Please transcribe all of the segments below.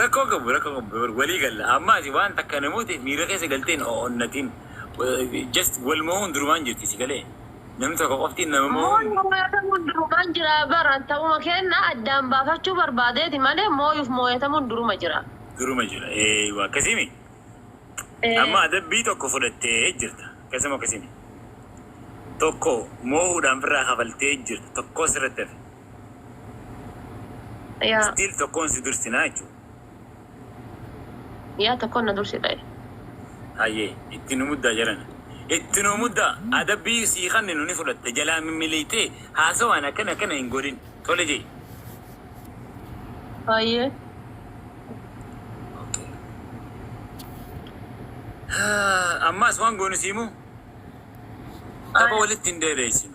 Rakkoo hin qabu rakkoo hin qabu walii galla amma ati waan takka namoota miira keessa galtee hin onnatin just wal mo'uun durumaan jirti si galee namni tokko qofti nama mo'uun Mo'uun mooyatamuun durumaan jira bar an ta'uma keenna addaan baafachuu barbaadeeti malee mooyuuf mooyatamuun duruma jira. duruma jira eeywa akkasimi Ee. amma adabbii tokko fudhattee jirta akkasimo akkasimi tokko moo'uudhaan firraa kafaltee jirta tokkoo sirratti hafe. Yaa. Still tokkoon si dursinaa jechuudha. Yaa tokkoon na dursi ta'e. Hayyee itti nu muddaa jarana. Itti nu muddaa adabbii sii kanninu ni fudhatta jalaa mimmiliitee haasawaan akkana akkana hin godhin tole jee. Hayyee. Okay. Ammaas waan goonu sii moo? Tapha Aye. walitti hin dheereessinu.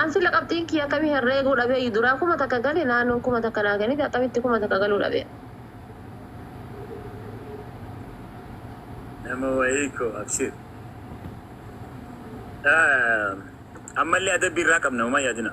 An sila qabxiin kiyya akkami herreeguu dhabeeyyu duraa kuma takka gale naannoon kuma takka naa kennite akkamitti kuma takka galuu dhabee. Nama wayii koo abshiir. Ammallee adabbii irraa qabna homaa yaadina.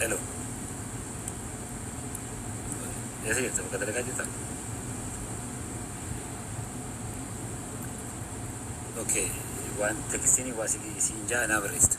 Hello. Eessa jirta? Bakka dalagaa jirta? Okay. Waan tekstiin waa si- siin ja'a naa barreessitu.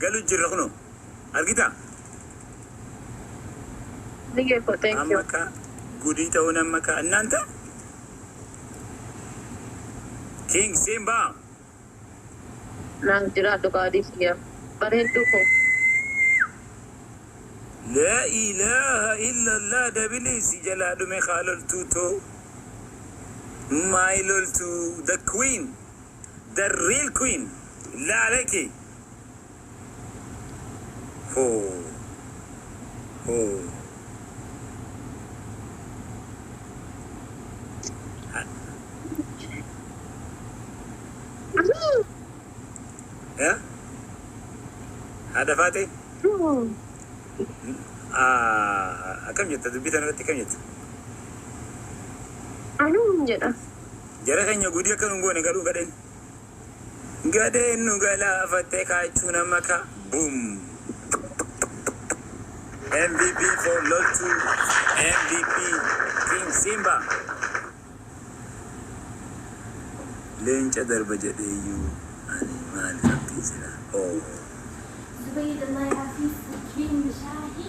galu jirra kuno argita Nige ko thank amma you. ka gudii ta'uun amma ka annanta king seen baa Naaf jiraadhu qaadii kiyya. Bareedduu koo. la ilaha illallah dabilii si jalaa dhume kaa loltuu too my loltuu the queen The real queen laale kee hoo hoo ha ya haadha faatee Ah, akkam jetta dubbii tana irratti akkam jetta Anuu jedha. Jara keenya gudii akka nun goone garuu gadheen. Gadheen nu galaafatte kaachuu nama ka boom. MVP for loltuu MVP King Simba. Leenca darba jedheeyyuu ani maal qabdii sila oh. Zubayir Allah ya fi Jin Shahi.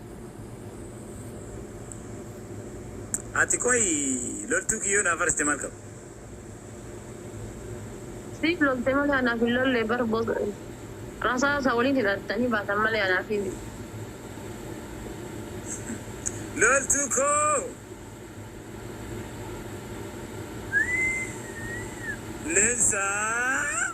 Ati qoyi loltuu kiyyoo naaf arsite maal qaba. Siif lolte malee anaaf hin lolle bar boss rasaasa waliin hidhattanii baatan malee anaaf hin. Loltuu koo Lensaa.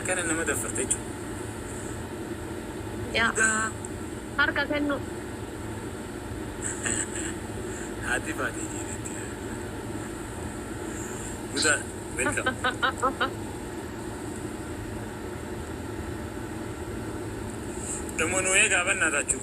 Akkana nama daffarta jechu. Yaa. Daa. Harka kennu. Haati baatee jireetti. Musa, welcome. Damo nu eegaa bannaa taachuu.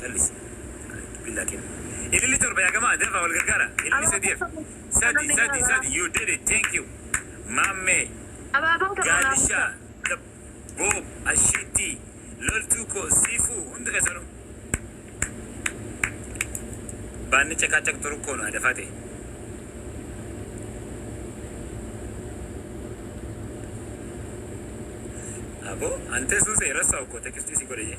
Callisi. Billaa kenni. Ililli torba yaa gamaa dafaa wal gargaara. Ililli Abaaboo sadiyeef. torba Sadi kanallee sadi garagaraa. sadi you did it thank you. Maammee. Abaaboo torba naaf Gaadishaa. ibsaa. Dab. Boob. Ashiittii. Loltuu koo. Siifuu. Hundi keessanuu. Baanni caqaacaqtu rukkoo nu adafaa ta'e. Aboo antee suusee rassaa okkoo tekistii si godhe jee.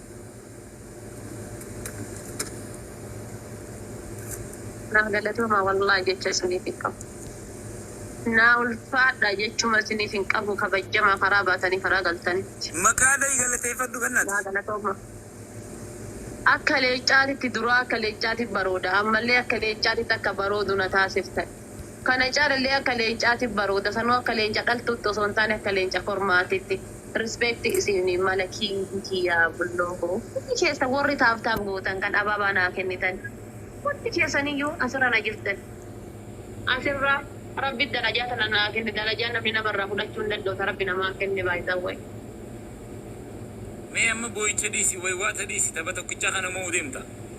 Naa galatoomaa wallaah jecha isiniif hin qabu. Naa ulfaadhaa jechuma isiniif hin qabu kabajjamaa karaa baatanii karaa galtanitti. Maqaa dhohi galateeffadhu Naa bennati. galatoomaa. Akka leeccaatitti duraa akka leeccaati barooda ammallee akka leeccaatitti akka baroodu na taasiftani. Kana caalallee akka leencaatiif baroota sanuu akka leenca dhaltuutti osoo hin taane akka leenca kormaatitti respect isiinii mala king kiyyaa bulloo koo hundi keessan worri tap tap gootan kan abaabaa naa kennitan hundi keessaniyyuu asirra na jirtan asirra rabbi darajaa tana naa kenne darajaa namni nama irraa fudhachuu hin danda'u ta rabbi namaa kenne by the way. Mee amma boo'icha dhiisi, waywaata dhiisi, tapha tokkicha kana mo'uu deemta.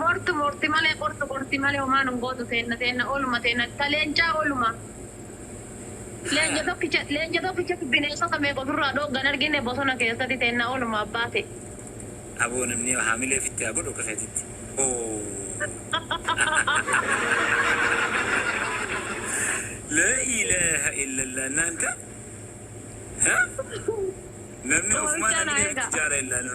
Mortu morti male qortu qorti male homaa nun gootu teenna teenna oluma teenna ta leencaa oluma leenca tokkicha leenca tokkichatu bineesota meeqa ofirraa dhoogga hin argine bosona keessati teenna oluma abbaa kee. Aboo namni hamilee ofitti haa godhu akka feetetti ooh. Laa ilaah illallah naanta ha namni ofumaa Qoorsichaa naa hamilee ofitti eegaa. jaara illaa no.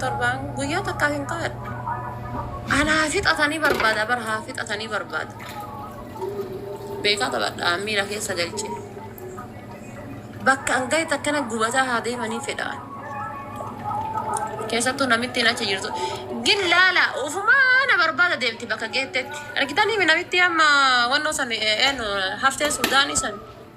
Torbaan guyyaa takkaa hin kaadhu. Anaa fixatanii barbaada bar haa fixatanii barbaada. Beekaa taphadha miira keessa galche. Bakka an gahe takkana gubataa haa deemanii fedha. Keessattuu namittiin achi jirtu. Gin laala ufumaa na barbaada deemti bakka geettetti. Argitanii mi namittii amma wannoo san eenyu haftee suudaanii san.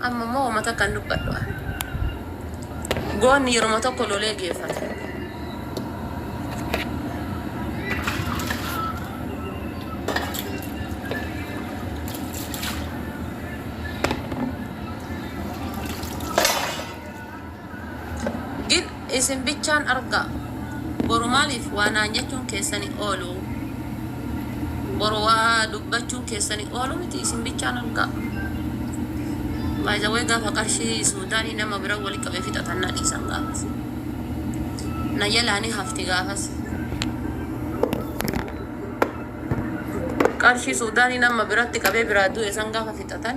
Amma immoo homa takka hin dubbadhu ani. Goonni yeruma tokko lolee geeffata. Gin isin bichaan argaa. Boru maaliif waa naan jechuun keessani oolu? Boru waa dubbachuun keessani oolu miti isin bichaan argaa. By the way gaafa qarshii suudaanii nama bira wali qabee fixatan na dhiisan gaafas. Na jalaa ni hafti gaafas. Qarshii suudaanii nama biratti qabee biraa du'e san gaafa fixatan